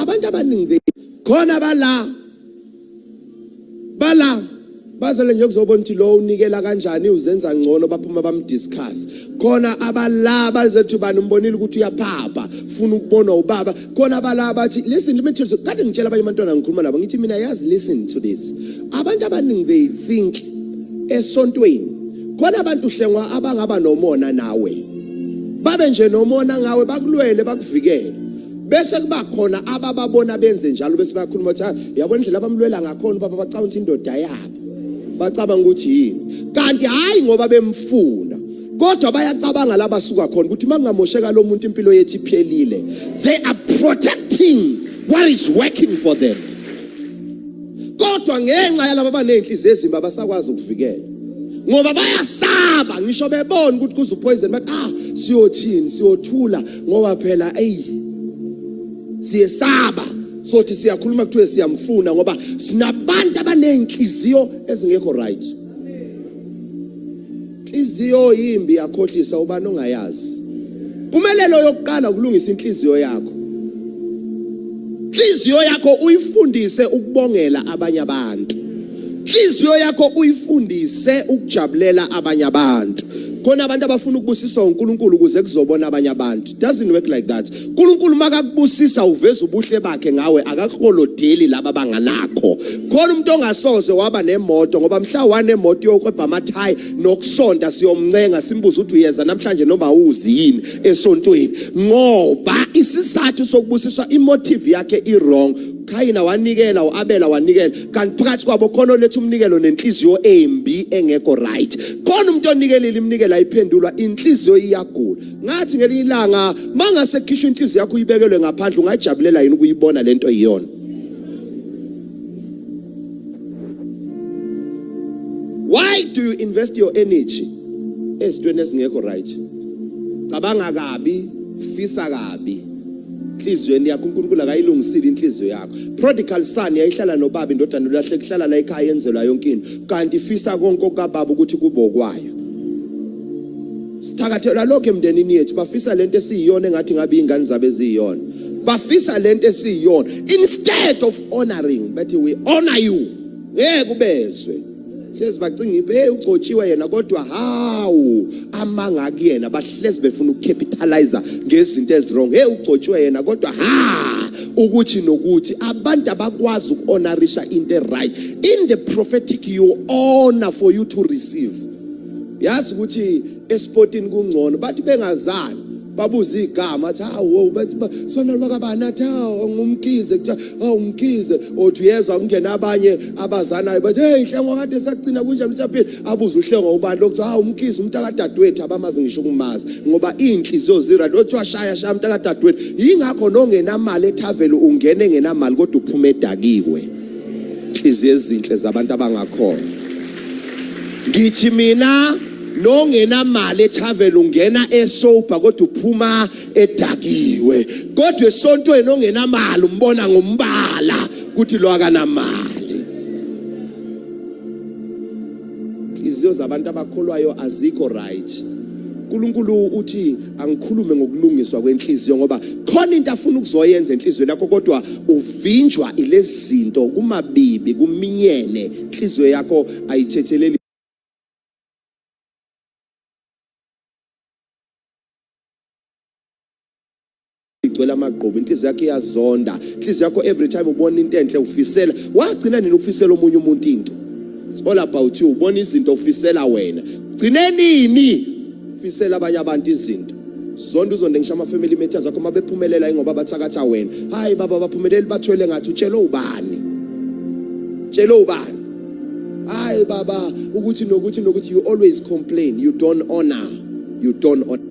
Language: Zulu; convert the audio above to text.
abantu abaningi khona bala bala bazele nje kuzobona ukuthi lo unikela kanjani uzenza ngcono baphuma bamdiscuss khona abala bazethi bani umbonile ukuthi uyaphapha ufuna ukubonwa ubaba khona abala bathi listen let me tell you kade ngitshela abanye abantwana ngikhuluma nabo ngithi mina yazi listen to this abantu abaningi they think esontweni khona abantu hlengwa abangaba nomona nawe babe nje nomona ngawe bakulwele bakuvikele bese kuba khona abababona benze njalo bese bayakhuluma ukuthi yabona indlela abamlwela ngakhona ubaba bacabanga ukuthi indoda yabo bacabanga ukuthi yini kanti hhayi ngoba bemfuna kodwa bayacabanga la basuka khona ukuthi uma kungamosheka lo muntu impilo yethu iphelile they are protecting what is working for them kodwa ngenxa yalaba abaney'nhliziyo ezimbi abasakwazi ukuvikela ngoba bayasaba ngisho bebona ukuthi kuze upoison bathi ah siyothini siyothula ngoba phela eyi siyesaba sothi siyakhuluma kuthiwe siyamfuna ngoba sinabantu abanezinhliziyo ezingekho right inhliziyo yimbi yakhohlisa ubani ongayazi impumelelo yokuqala ukulungisa inhliziyo yakho inhliziyo yakho uyifundise ukubongela abanye abantu inhliziyo yakho uyifundise ukujabulela abanye abantu khona abantu abafuna ukubusiswa uNkulunkulu ukuze kuzobona abanye abantu doesn't work like that uNkulunkulu makakubusisa uveza ubuhle bakhe ngawe akakukolodeli laba banganakho khona umuntu ongasoze waba nemoto ngoba mhla wanemoto yokwebha amathayi nokusonta siyomncenga simbuza ukuthi uyeza namhlanje noma uzi yini esontweni ngoba isizathu sokubusiswa imotive yakhe i wrong Kayina wanikela uAbela wanikela kanti phakathi kwabo khona oletha umnikelo nenhliziyo embi engekho right khona umuntu onikelile iminikelo ayiphendulwa inhliziyo iyagula ngathi ngelinye ilanga mangase khishwa inhliziyo yakho uyibekelwe ngaphandle ungajabulela yini ukuyibona lento iyona why do you invest your energy ezintweni ezingekho right cabanga kabi fisa kabi enhliziyweni yakho uNkulunkulu akayilungisile inhliziyo yakho prodigal son yayihlala nobaba indodana ulahle kuhlala la ekhaya yenzelwa yonke into kanti ifisa konke okababa ukuthi kube okwayo sithakathelwa lokho emndenini yethu bafisa lento esiyiyona engathi ngabe ingane zabe eziyiyona bafisa lento esiyiyona instead of honoring bathi we honor you ngeke ubezwe hlezi bacinga ibe hey ugcotshiwe yena kodwa hawu amanga kuyena bahlezi befuna ukucapitalize ngezinto ezirong hey ugcotshiwe yena kodwa ha ukuthi nokuthi abantu abakwazi ukuhonorisha into eright in the prophetic you honor for you to receive yazi ukuthi esportini kungcono bathi bengazani babuza igama athi hawo bathi sona lwakabani athi hawo ngumkhize kuthiwa hawo oh, ngumkhize othi uyezwa kungena abanye abazanayo bathi hey hlengo kade sagcina kunjani usaphila abuza uhlengo ubani lokuthiwa hawo umkhize umntakadadewethu abamazi ngisho ukumazi ngoba iy'nhliziyo zirad othi washaya shaya umntakadadewethu yingakho nongenamali ethavele ungena engenamali kodwa uphuma edakiwe inhliziyo ezinhle zabantu abangakhona ngithi mina nongenamali etravel ungena esober kodwa uphuma edakiwe kodwa esontweni ongenamali umbona ngombala ukuthi lo akanamali iziyo zabantu abakholwayo azikho right uNkulunkulu uthi angikhulume ngokulungiswa kwenhliziyo ngoba khona into afuna ukuzoyenza enhlizweni yakho kodwa uvinjwa ilezinto kumabibi kuminyene inhliziyo yakho ayithetheleli igcwele amagqubu inhliziyo yakho iyazonda inhliziyo yakho every time ubona into enhle ufisela wagcina nini ukufisela omunye umuntu into It's all about you ubona izinto ufisela wena gcine nini ufisela abanye abantu izinto zonto uzonde ngisho ama-family matters akho uma bephumelela ingoba bathakatha wena hhayi baba baphumeleli bathwele ngathi utshele ubani tshele ubani hhayi baba ukuthi nokuthi nokuthi you always complain you don't honor you don't honor